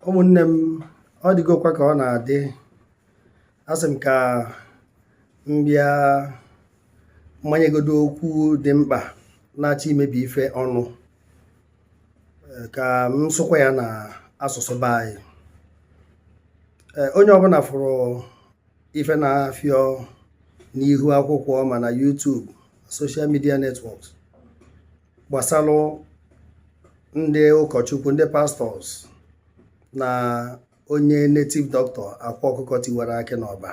ụmụnne m ọ dịgokwa ka ọ na-adị asị m ka m bịa m manyegodo okwu dị mkpa na-achọ imebi ife ọnụ eh, ka m sụkwa ya na asụsụ be anyị eh, onye ọbụna fụrụ ife na-afịọ n'ihu akwụkwọ ma na YouTube social media networks gbasalụ ndị ụkọchukwu ndị pastọs na onye netiv dọkịta akwa ọkụkọ tiwara akị n'ọba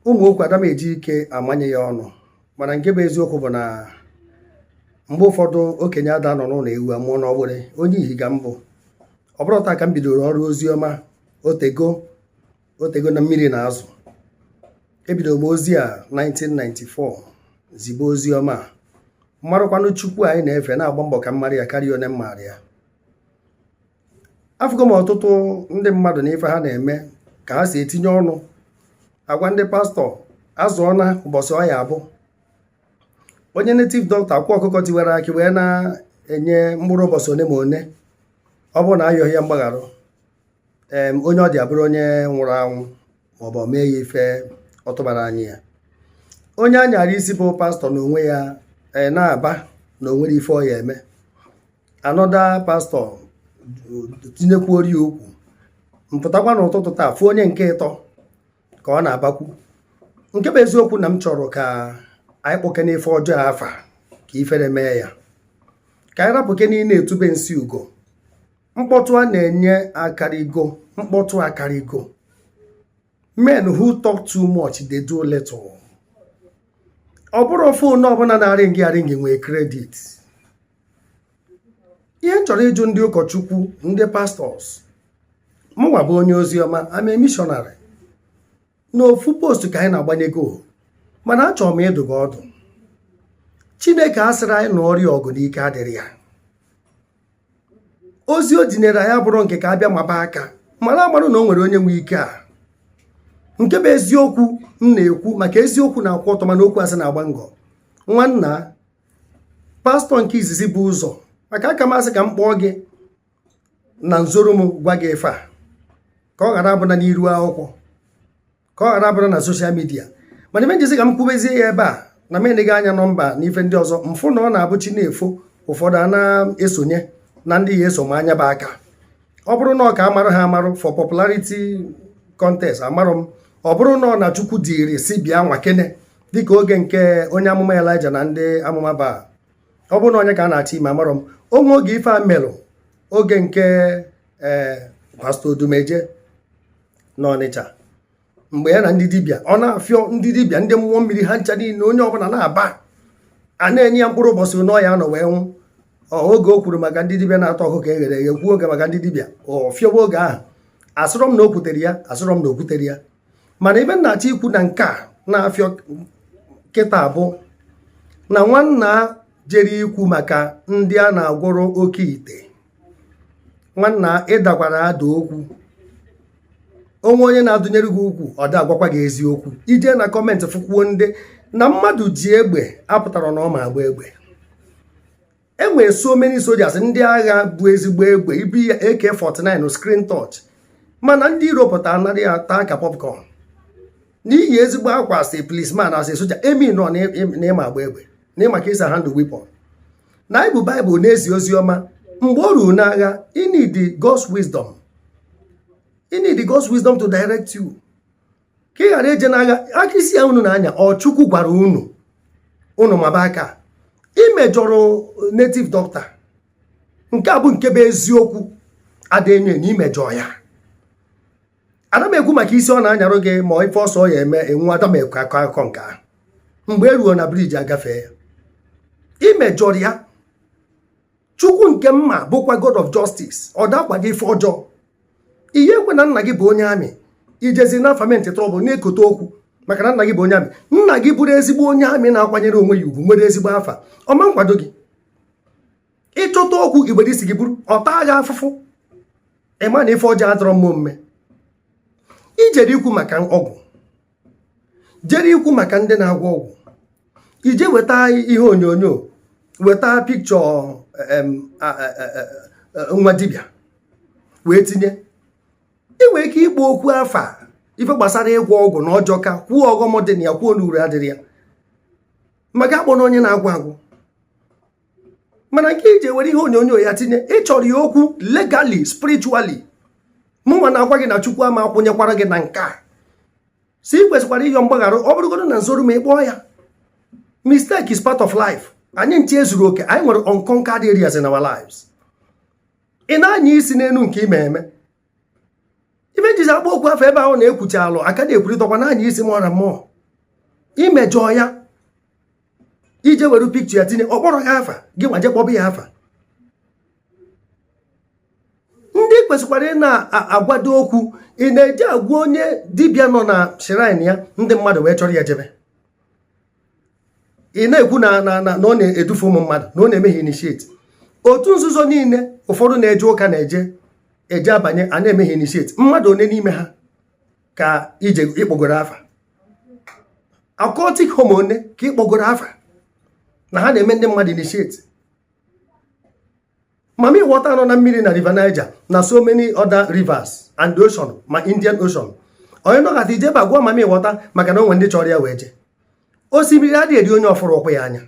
ụmụ okwu ada m eji ike amanye ya ọnụ mana nke bụ eziokwu bụ na mgbe ụfọdụ okenye ada anọ n'ụnọ ewu amụọ n'ọgbụrị onye ihi ka m bụ ọ bụrọ taa ka m bidoro ọrụ ozi ọma o tego o tego na mmiri na azụ ebido m ozi a 1994 zibe ozi ọma a m marụkwanụ chukwu anyị na-efe na-agba mbọ ka m marị ya karịa one m marị ya afụgo m ọtụtụ ndị mmadụ na ife ha na-eme ka ha si etinye ọnụ agwa ndị pastọ azụọ na ụbọsị ọ ya-abụ onye netiv dọkịta akwa ọkụkọ tiwara akị wee na-enye mkpụrụ ụbọsị one ma one ọ bụrụ na a yọghị ya mgbagharụ onye ọ dị abụrụ onye nwụrụ anwụ maọbụ ọ mee ya ife ọ tụbara anya ya onye anyara isi bụ pastọ na onwe ya e, na-aba na o nwere ife ọ ya-eme anọda pastọ tinyekwuori ya okwu m pụtakwa n'ụtụtụ taa fụ onye nke ịtọ ka ọ na-abakwu nke bụ eziokwu na m chọrọ ka anyị kpọkene ife ọjọọ afa ka ifere mee ya ka anyị rapụkene ịna-etube nsị ugo mkpọtụ a na-enye akarịgo mkpọtụ akarịgo men who talk too much they do little ọ bụrọ fon ọbụna na-arịngị arịngị nwee kredit ihe m chọrọ ịjụ ndị ụkọchukwu ndị pastọs mụnwa bụ onye ozi ọma I'm a missionary n'ofu post ka anyị na-agbanye goal mana achọrọ m ịdụ gị ọdụ chineke asịrọ anyị nụọrọ ya ọgụ na ike adịrọ ya ozi o dunyere anyị abụrọ nke ka a bịa maba aka mara amarụ na o nwere onye nwe ike a nke bụ eziokwu m na-ekwu maka eziokwu na-akwụ ọtọ mana okwu asị na-agba ngọ nwanna pastọ nke izizi bu ụzọ maka aka m asị ka m kpọọ gị na nzoro m gwa gị ife a ka ọ ghara abụna n'iru akwụkwọ ka ọ ghara abụna na soshal midia mana ife mezi ka m kwubezie ya ebe a na m eneghị anya nọmba na ife ndị ọzọ m fụ na ọ na-abụ chi na-efo ụfọdụ a na-esonye na ndị ya eso ama nya bụ aka ọ bụrụ na ọ ka a marụ ha amarụ for popularity contest amarọ m ọ bụrụ na ọ na chukwu dịrị si bịa nwakene dịka oge nke onye amụma elija na ndị amụma ba ọ bụrụ na onye ka a na-achọ ime amarọ m o nwee oge ife a melụ oge nke ee eh, pastọ odumeje n'ọnịcha mgbe ya na ndị dibịa ọ na-afịọ ndị dibịa ndị mmụọ mmiri ha ncha niile onye ọbụla na-aba a na-enye ya mkpụrụ ụbọchị ọ ya-anọ wee nwụ oge o kwuru maka ndị dibịa na-ata ọkụkọ e ghere eghe kwuo oge maka ndị dibịa ọ fịọwa oge ahụ asịrọ m na o kwutere ya asịrọ m na o kwutere ya mana ife m na-achọ ikwu na nke a na-afịọ kịtaa bụ na nwanna a jere ikwu maka ndị a na-agwọrọ oke ite nwanna ị dakwara ada okwu o nwee onye na-adụnyere gị ukwu ọ da agwakwa gị eziokwu i jee na comment fụkwuo ndị na mmadụ ji egbe apụtarọ na ọ ma agba egbe e nwere so many soldiers ndị agha bu ezigbo egbe ibi ya AK49 screen touch mana ndị iro pụta a nara ya taa ka popcorn na iyi ezigbo akwa as policeman as soldier emerọ na ị ma agba egbe na ị ma ka e si handle weapon na anyị bu baịbụl na-ezi ozi ọma mgbe o ruru n'agha ị need God's wisdom ị need God's wisdom to direct you ka ị ghara eje n'agha aka isi a unu na-anya ọ chukwu gwara unu unu maba aka i mejọrọ native doctor nke a bụ nke bụ eziokwu ada enyo enyo i mejọrọ ya ada m ekwu maka isi ọ na-anyarụ gị ma ife ọsọ ya eme enwu ada m ekwu akọ akụkọ nke ahụ mgbe e ruo na bridge agafee ya i mejọrọ ya chukwu nke mma bụkwa god of justice ọ da akwado ife ọjọọ ihe ekwe na nna gị bụ onye army i jezie na-afoment trouble na-ekote okwu maka na nna gị bụ onye army nna gị bụrụ ezigbo onye army na-akwanyere onwe ya ugwu nwere ezigbo afa ọ ma nkwado gị ị chọta okwu i were isi gị buru ọ taa gị afụfụ ị ma na ife ọjọọ adọrọ mma omume i jere ikwu maka ọgwụ jere ikwu maka ndị na-agwọ ọgwụ i jee weta ihe onyonyo weta picture nwa dibịa wee tinye ị nwere ike ịkpọ okwu afa ife gbasara ịgwọ ọgwụ na ọ jọka kwuo ọghọm dị na ya kwuo na uru adịrọ ya maka akpọna onye na-agwọ ọgwụ mana nke i ji were ihe onyonyo ya tinye ị chọrọ ya okwu legally spiritually mụnwa na-agwa gị na chukwu ama akwụnyekwara gị na nke a si ị kwesịkwara ịyọ mgbaghara ọ bụrụgodo na nzoru ma ị kpọọ ya mistake is part of life anyị ncha ezurọ oke anyị nwere unconquered areas in our lives ị na-anya isi n'elu nke ime eme ife m jizi akpọ okwu afa ebe ahụ na-ekwucha alụ aka na-ekwurịtakwa na-anya isi mụọ na mmụọ i mejọọ ya i jee were picture ya tinye ọ kpọrọ gị afa gị nwa je kpọba ya afa ndị kwesịkwara ị na-agwado okwu ị na-eji agwa onye dibịa nọ na shrine ya ndị mmadụ wee chọrọ ya jebe ị na-ekwu na na na ọ na-edufu ụmụ mmadụ na ọ na-eme ha initiate otu nzuzo niile ụfọdụ na-eje ụka na-eje eje abanye a na-eme ha initiate mmadụ one n'ime ha ka ije ị kpọgoro afa occultic home one ka ị kpọgoro afa na ha na-eme ndị mmadụ initiate mami water nọ na mmiri na river niger na so many other rivers and the ocean ma indian ocean onye nọkata i jebe agwa mami water maka na o nwe ndị chọrọ ya wee je osimiri adịghị eri onye ọ fụrọ ụkwụ ya anya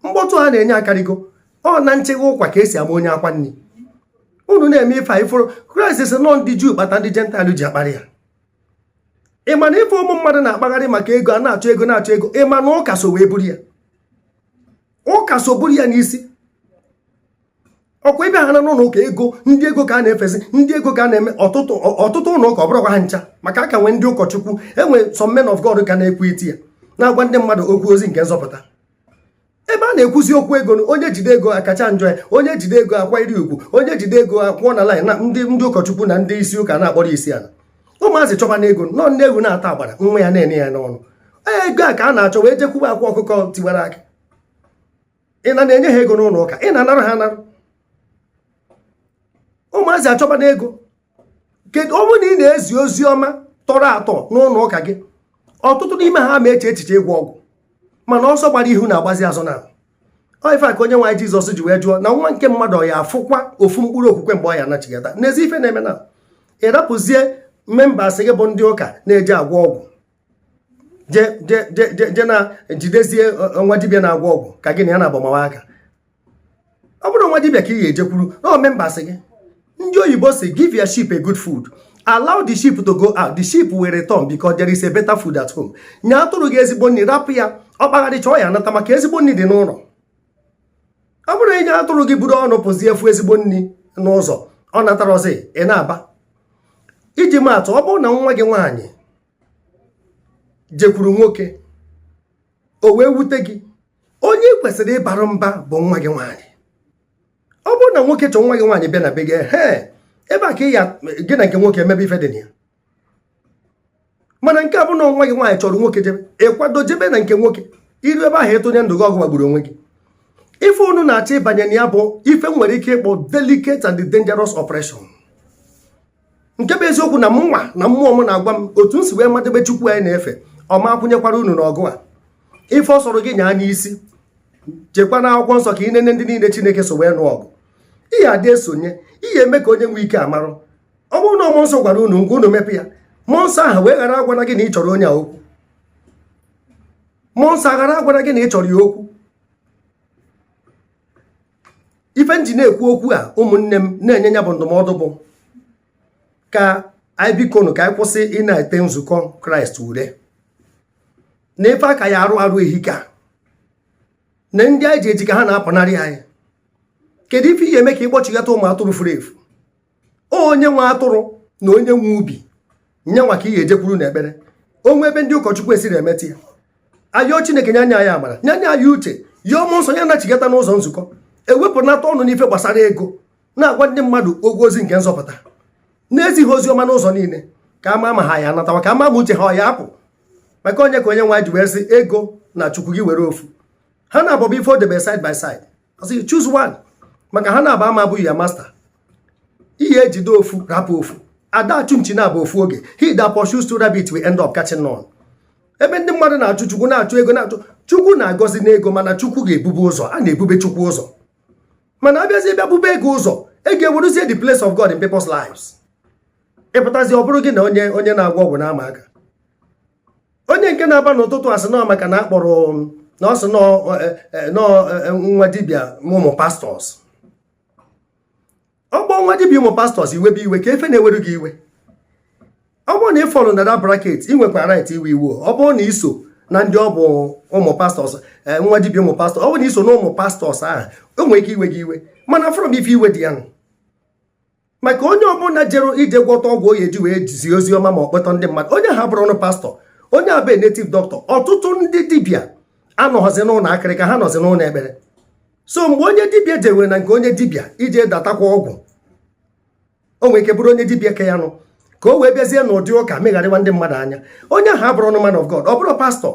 mkpọtụ a na-enye akarịgo ọ na nchegha ụkwa ka e si ama onye akwa nri unu na-eme ife anyị fụrụ kraịst sị na ọ ndị juu kpata ndị jentaịlụ ji akparị ya ị ma na ife ụmụ mmadụ na-akpagharị maka ego a na-achọ ego na-achọ ego ị ma na ụka so wee buru ya ụka so buru ya n'isi ọ kwa ebe ha na n'ụlọ ụka ego ndị ego ka a na-efezi ndị ego ka a na-eme ọtụtụ ọtụtụ ụlọ ụka ọ bụrọkwa ha ncha maka a ka nwee ndị ụkọchukwu e nwe some men of God ka na-ekwu etu a na-agwa ndị mmadụ okwu ozi nke nzọpụta ebe a na-ekwuzi okwu ego na onye jide ego akacha njọ ya onye jide ego akwa iri ugwu onye jide ego akwụọ na laịn na ndị ndị ụkọchukwu na ndị isi ụka na-akpọrọ isi ala ụmụazị chọbana ego na ọ nne ewu na-ata agbara nwa ya na-ene ya n'ọnụ ego a ka a na-achọ wee jekwuba akwa ọkụkọ tiwara akị ị na na-enye ha ego n'ụlọ ụka ị na-anara ha anara ụmụazị achọbana ego kedu ọ bụrụ na ị na-ezi ozi ọma tọrọ atọ n'ụlọ ụka gị ọtụtụ n'ime ha ama eche echiche ịgwọ ọgwụ mana ọsọ gbara ihu na-agbazi azụ na ọ ife a ka onye nwe anyị jizọs ji wee jụọ na nwa nke mmadụ ọ ya-afụkwa ofu mkpụrụ okwukwe mgbe ọ ya-anachigata nezie ife na-eme na ị rapụzie members gị bụ ndị ụka na-eje agwọ ọgwụ je na jidezie e, nwa dibịa na-agwọ ọgwụ ka gị na ya na-agbamawa aka ọ bụrọ nwa dibịa ka ị ga-ejekwuru na members gị ndị oyibo sị give your sheep a good food allow the sheep to go out the sheep will return because there is a better food at home nye atụrụ gị ezigbo nri rapụ ya ọ kpagharịchaa ọ ya-anata maka ezigbo nri dị n'ụlọ ọ bụrụ na i nye atụrụ gị buru ọnụ pụzie fụ ezigbo nri n'ụzọ ọ natarọzi ị na-aba iji maatụ ọ bụrụ na nwa gị nwaanyị jekwuru nwoke o wee wute gị onye ị kwesịrị ịbara mba bụ nwa gị nwaanyị ọ bụrụ na nwoke chọọ nwa gị nwaanyị bịa na be gị he ebe a ka ị ya gị na nke nwoke emebe ife dị na ya mana nke a bụ na nwa gị nwaanyị chọrọ nwoke jebe ị kwado jebe na nke nwoke i ru ebe ahụ ị tụnye ndụ gị ọ gị gbagburu onwe gị ife unu na-achọ ịbanye na ya bụ ife e nwere ike ịkpọ delicate and dangerous operation nke bụ eziokwu na mụnwa na mmụọ m na-agwa m otu m si wee madebe chukwu anyị na-efe ọ ma akwụnyekwara unu n'ọgụ a ife ọ sọrọ gị nyaa n'isi chekwa na akwụkwọ nsọ ka ị nene ndị niile chineke so wee nụọ ọgụ ihe adị esonye ihe eme ka onye nwee ike amarụ ọ bụrụ na mmụọ nsọ gwara unu ngwa unu mepe ya mmụọ nsọ ahụ wee ghara agwara gị na ị chọrọ onye a okwu mmụọ nsọ aghara agwara gị na ị chọrọ ya okwu ife m ji na-ekwu okwu a ụmụnne m na-enye ya bụ ndụmọdụ bụ ka anyị bikonu ka anyị kwụsị ịna-ete nzukọ kraịst ure na ife a ka ya-arụ arụ ehika na ndị anyị ji eji ka ha na-apụnarị anyị kedu ife ị ya-eme ka ịkpọchighata ụmụ atụrụ furu efu onye nwe atụrụ na onye nwe ubi nya nwa ka ị ga-ejekwuru na ekpere o nwee ebe ndị ụkọchukwu esiri emetụ ya a yọọ chineke nya nye anyị amara nya nye anyị uche yọọ mmụọ nsọ ya nachigata n'ụzọ nzukọ ewepụnata ọnụ n'ife gbasara ego na-agwa ndị mmadụ okwu ozi nke nzọpụta na-ezi ozi ọma n'ụzọ niile ka a ma ma ha ya anatawa ka a ma ma uche ha ọ ya apụ maka onye ka onye nwe anyị ji wee sị ego na chukwu gị were ofu ha naabọ bụ ife o debe side by side ọ sị choose one maka ha naabọ ama abụghị ya master ị ya-ejide ofu rapụ ofu a da achụ nchi naabọ ofu oge he that pursues two rabbits will end up catching none ebe ndị mmadụ na-achụ chukwu na-achụ ego na chukwu na-agọzi n'ego mana chukwu ga-ebube ụzọ a na-ebube chukwu ụzọ mana a bịazi bịa bube ego ụzọ ego eweruzie the place of God in people's lives ịpụtazi ọ bụrụ gị na onye onye na-agwọ ọgwụ na-ama aka onye nke na-aba n'ụtụtụ a sị na maka na a kpọrọ um, na ọ sị nọ eh, eh, eh, nwa dibịa ụmụ pastọs ọ kpọọ nwa dibịa ụmụ pastọs i webe iwe kee ife na-ewere gị iwe ọ bụrụ na ị fọlụ na that bracket ị nwekwa right iwe iwe ọ bụrụ na i so na ndị ọ bụ ụmụ pastọs nwa dibịa ụmụ pastọs ọ bụrụ na i so na ụmụ pastọs ahụ o nwere ike iwe gị iwe mana afụrọ m ife iwe dị ya nụ maka onye ọbụla jere ije gwọta ọgwụ ọ ya-eji wee zi ozi ọma ma ọ kpọta ndị mmadụ onye ahụ abụrọnụ pastọ onye a bụ native doctor ọtụtụ ndị dibịa anọghọzi n'ụlọ akịrịka ha nọzi n'ụlọ ekpere so mgbe onye dibịa jewere na nke onye dibịa ije datakwa ọgwụ o nwere ike bụrụ onye dibịa ke ya nụ ka o wee bịazie n'ụdị ụka megharịwa ndị mmadụ anya onye ahụ abụrọnụ man of God ọ bụrọ pastọ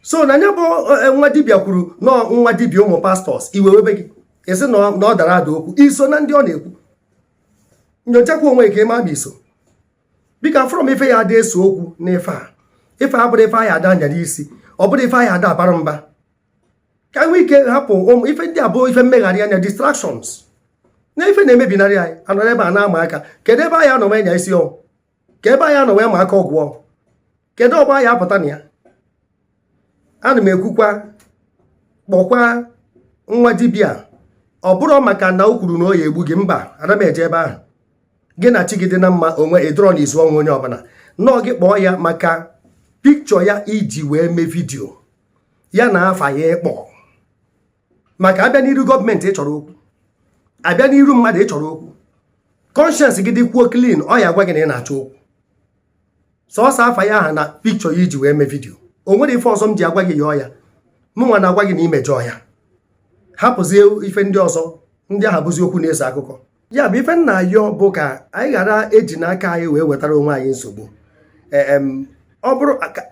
so na nya bụ e, nwa dibịa kwuru na nwa dibịa ụmụ pastọs iwe webe gị esi na ọ dara ada okwu i so na ndị ọ na-ekwu nyochakwa onwe ka ị ma ma i so biko afụrọ m ife ya ada ese okwu na ife a ife a abụrọ ife anyị ada anya n'isi ọ bụrọ ife anyị ada abara mba ka nwee ike hapụ ụmụ ife ndị a bụ ife mmegharị anya distractions na ife na-emebinarị anyị a nọrọ ebe a na-ama aka kedu ebe anyị anọ anya isi ọnwụ ka ebe a ya anọ wee ma aka ọgwụ o kedu ọgbọ a ya apụta na ya ana m ekwukwa kpọkwa nwa dibia ọ bụrụ maka na o kwuru na ọ ya egbu gị mba ana m eje ebe ahụ gị na chi gị dị na mma onwe ịdọrọ na izu ọnwụ onye ọbụla nọọ gị kpọọ ya maka pikchọ ya i ji wee mee vidio ya na afa ya ị kpọọ maka a bịa n'iru gọọmenti ị chọrọ okwu a bịa n'iru mmadụ ị chọrọ okwu kọnshens gị dịkwuo klin ọ ya agwa gị na ị na-achọ okwu sọsọ afa ya aha na pikchọ ya i ji wee mee vidio o nwere ife ọzọ m ji agwa gị yọọ ya mụnwa na-agwa gị na i mejọọ ya hapụzie ife ndị ọzọ ndị aha bụzi okwu na-eso akụkọ ya bụ ife m na-ayọ bụ ka anyị ghara ejina aka anyị wee wetara onwe anyị nsogbu e, ọ bụrụ ka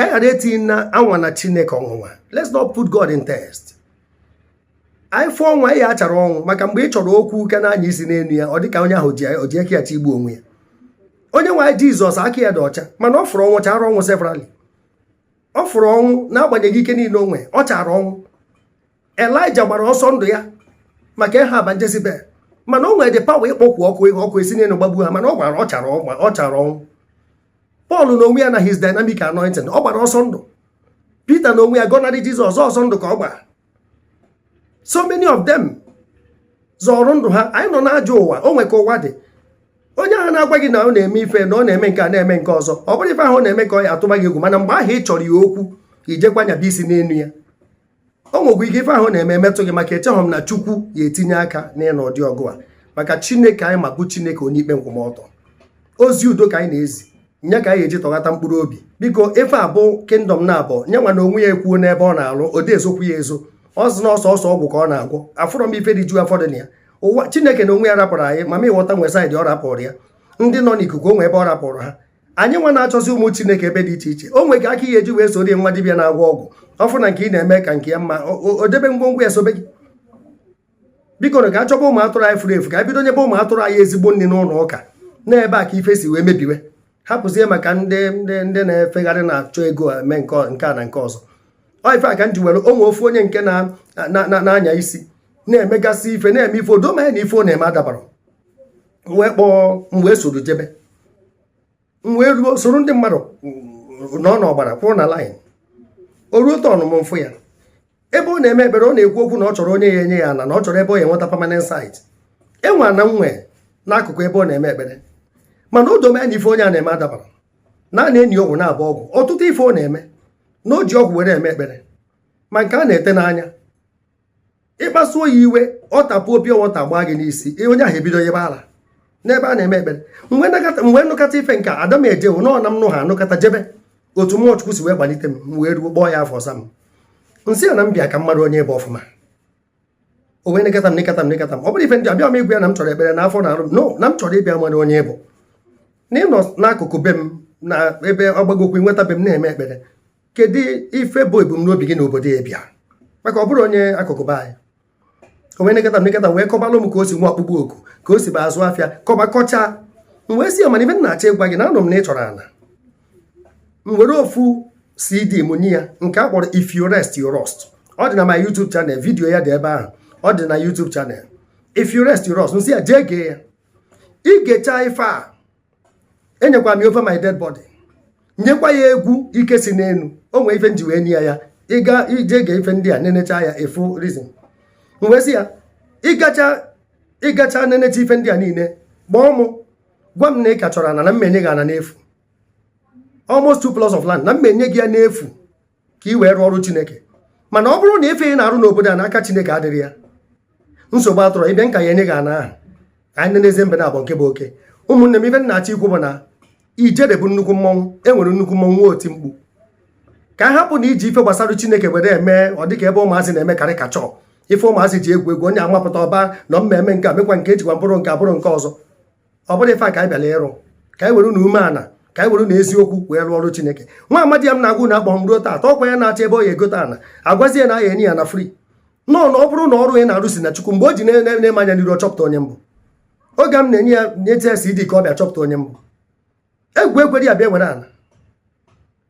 anyị ghara etinyena anwana chineke ọnwụnwa let's not put God in test anyị fụ ọnwụ anyị ya achara ọnwụ maka mgbe ị chọrọ okwu ka na-anya isi n'elu ya ọ dị ka onye ahụ ji aka ya chọ igbu onwe ya onye nwe anyị jizọs aka ya dị ọcha mana ọ fụrụ ọnwụ chara ọnwụ severally ọ fụrụ ọnwụ n'agbanyeghị ike niile o nwe ọ chara ọnwụ elija gbara ọsọ ndụ ya maka ehab na jezibel mana o nwere the power ịkpọku ọkụ ihe ọkụ esi n'elu gbagbu ha mana ọ gbara ọ chara ọgba- ọ chara ọnwụ pọl na onwe ya na his dynamic anointing ọ gbara ọsọ ndụ pita na onwe ya gọnarị jizọs ọsọ ndụ ka ọ gbara so many of them zọrọ ndụ ha anyị nọ n'ajọ ụwa o nwe ka ụwa dị onye ahụ na-agwa gị na ọ na-eme ife na ọ na-eme nke a na-eme nke ọzọ ọ bụrụ ife ahụ ọ na-eme ka ọ ya atụba gị egwu mana mgbe ahụ ị chọrọ ya okwu i jekwa nyaba isi n'elu ya o nwekwa ike ife ahụ ọ na-eme emetụ gị maka echeghọ m na chukwu ya etinye aka n'ịnụ ụdị ọgụ a maka chineke anyị ma bụ chineke onye ikpe nkwụmọtọ ozi udo ka anyị na-ezi ya ka anyị eji tọghata mkpụrụ obi biko ife a bụ kingdom na abụọ ya nwa na onwe ya ekwuo n'ebe ọ na-alụ ọ da ezokwu ya ezo ọ sị na ọ sọsọ ọgwụ ka ọ na-agwọ afụrọ m ife dị ju afọ dị na ya ụwa chineke na onwe ya rapụrụ anyị ma m ịghọta o nwe saịdị ọ rapụrụ ya ndị nọ n'ikuku o nwe ebe ọ rapụrụ ha anyị nwa na-achọzi ụmụ chineke ebe dị iche iche o nwere aka ị ya eji wee soro nwa dibịa na-agwọ ọgwụ ọ fụ na nke ị na-eme ka nke ya mma o debe ngwongwo ya sobe gị biko na ka a chọba ụmụ atụrụ anyị furu efu ka e bido nyebe ụmụ atụrụ anyị ezigbo nri n'ụlọ ụka na ebe a ka ife si wee mebiwe hapụzie maka ndị ndị ndị na-efegharị na-achọ ego eme nke a na nke ọzọ ọ ife a ka m ji were o nwe ofu onye nke na-anya isi na-emegasị ife na-eme ife o do m anya na ife ọ na-eme adabara wee kpọọ m wee soro jebe m wee ruo soro ndị mmadụ nọ n'ọgbara kwụrụ na laịn o ruo tọn m m fụ ya ebe ọ na-eme ekpere ọ na-ekwu okwu na ọ chọrọ onye ya enye ya ana na ọ chọrọ ebe ọ ya enweta permanent site e nwe ana m nwe n'akụkụ ebe ọ na-eme ekpere mana o do m anya na ife onye a na-eme adabara na a na-eni ọgwụ na-abọ ọgwụ ọtụtụ ife ọ na-eme na o ji ọgwụ were eme ekpere ma nke a na-ete n'anya ịkpasuo ya iwe ọ tapuo pure water gbaa gị n'isi onye ahụ ebido yịbe ala n'ebe a na-eme ekpere mgbe m nụkọta ife nke ada m eje wụ na m nụ ha anụkọta jebe otu mmụọ chukwu si wee kpalite m wee ruo kpọọ ya afa ọ za m m sị ya na m bịa ka m malụ onye ị bụ ọfụma o wee nekata m nekata m nekata m ọ bụrụ ife m ji abịa m ịgwa ya na m chọrọ ekpere na afọ na-arụ m no na m chọrọ ịbịa malụ onye ị bụ na ị nọ n'akụkụ be m na ebe ọgbagokwu nweta be m na-eme ekpere kedu ife bụ ebumnobi gị n'obodo a ị bịa maka ọ bụrụ onye akụkụ be anyị o wee nekata nekata wee kọbalụ m ka o si nwee ọkpụkpọ oku ka o si bu azụ afịa kọba kọcha m wee sị ya mana ife m na-achọ ịgwa gị na anụ m na ị chọrọ ana m were ofu CD m nye ya nke a kpọrọ if you rest you rust ọ dị na my YouTube channel vidiyo ya dị ebe ahụ ọ dị na YouTube channel if you rest you rust m sị ya jee gee ya i gecha ife a enyekwa m over my dead body nyekwa ya egwu ike si n'enu o nwe ife m ji wee nye ya ị ga-eje gee ife ndị a nenecha ya ị fụ reason m wee sị ya i gecha i gecha nenecha ife ndị a niile kpọọ mụ gwa m na ị ka chọrọ ana na m ya-enye gị ana n'efu almost two plots of land na m ya-enye gị ya n'efu ka i wee rụọ ọrụ chineke mana ọ bụrụ na ife ị na-arụ n'obodo a na aka chineke adịrọ ya nsogbu adịrọ ị bịa m ka ya enye gị ana ahụ anyị enezie mbe naabọ nke bụ oke ụmụnne m ife m na-achọ ikwu bụ na ijele bụ nnukwu mmọnwụ e nwere nnukwu mmọnwụ nwee oti mkpu ka a hapụ na iji ife gbasara chineke were eme ọ dịka ebe ụmụazị na-eme caricature ife ụmụazị ji egwu egwu onye amapụta ọba na m ya-eme nke a mekwa nke a jikwa mkpụrụ nke a buru nke ọzọ ọ bụrụ ife a ka anyị bịara ịrụ ka anyị were na umeana ka anyị were na eziokwu wee rụọ ọrụ chineke nwa amadi a m na-agwa unu akpọrọ m ruo taata ọkwa ya na-achọ ebe ọ ya egote ana agwazie ya na a ya enye ya ana free no na ọ bụrụ na ọrụ ị na-arụ si na chukwu mgbe o ji nee m anya n'iru ọ chọpụta onye m bụ oge m na-enye ya nyete ya CD ka ọ bịa chọpụta onye m bụ egwu ekwerọ ya bịa were ala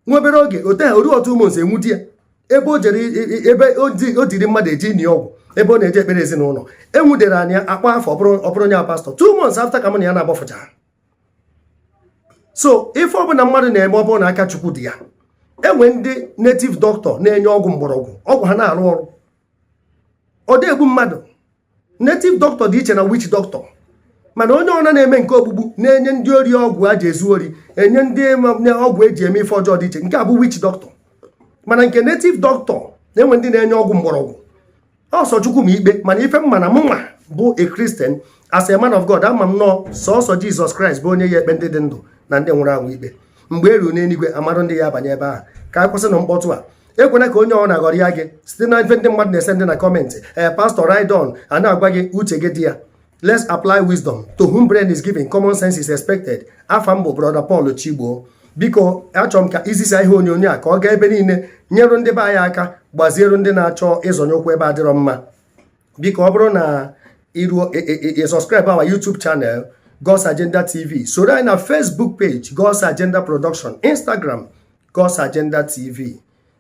nwa obere oge ote ha o ruo two months enwude ya ebe o jere ebe o duru mmadụ eje ini ọgwụ ebe ọ na-eje ekpere ezinụlọ enwudere anya akpa afọ ọ bụrụ onye pastọ two months after ka mụ na ya na-agbafụcha so ife ọbụla mmadụ na-eme ọ bụrụ na aka chukwu dị ya enwe ndị native doctor na-enye ọgwụ mgbọrọgwụ ọgwụ ha na-arụ ọrụ ọ da egbu mmadụ native doctor dị iche na witch doctor mana onye ọna na-eme nke ogbugbu na-enye ndị ori ọgwụ a ji ezu ori enye ndị ọgwụ eji eme ife ọjọọ dị iche nke a bụ witch doctor mana nke native doctor na-enwe ndị na-enye ọgwụ mgbọrọgwụ ọ sọ chukwu ma ikpe mana ife m ma na mụnwa bụ a Christian as a man of God ama m na ọ sọsọ Jizọs Kraịst bụ onye ya ekpe ndị dị ndụ na ndị nwụrụ anwụ ikpe mgbe e ruo n'eluigwe a marụ ndị ya abanye ebe ahụ ka a kwụsịnụ mkpọtụ a ekwena ka onye ọbụna ghọrịa gị site na ife ndị mmadụ na-esendị na kọmentị ee eh, pastọ ride on a na-agwa gị uche gị dị ya let's apply wisdom to whom brain is given common sense is expected afa m bụ brother Paul Chigbo biko achọrọ m ka i zisa ihe onyonyo a ka ọ gaa ebe niile nyere ndị be anyị aka gbaziere ndị na-achọ ịzọnye ụkwụ ebe adịrọ mma biko ọ bụrụ na i ruo e, e, e, subscribe our YouTube channel God's Agenda TV soro anyị na Facebook page God's Agenda Production Instagram God's Agenda TV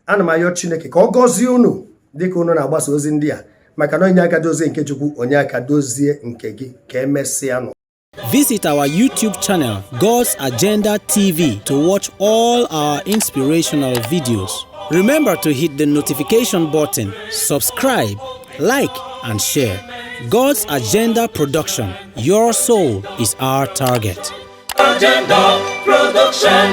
ana m ayọ Chineke ka ọ gọzie unu dịka unu na-agbasa ozi ndị a maka na i nye aka dozie nke Chukwu o nye aka dozie nke gị ka emesịa nụ Visit our YouTube channel, God's Agenda TV, to watch all our inspirational videos. Remember to hit the notification button, subscribe, like, and share. God's Agenda Production. Your soul is our target. Agenda Production.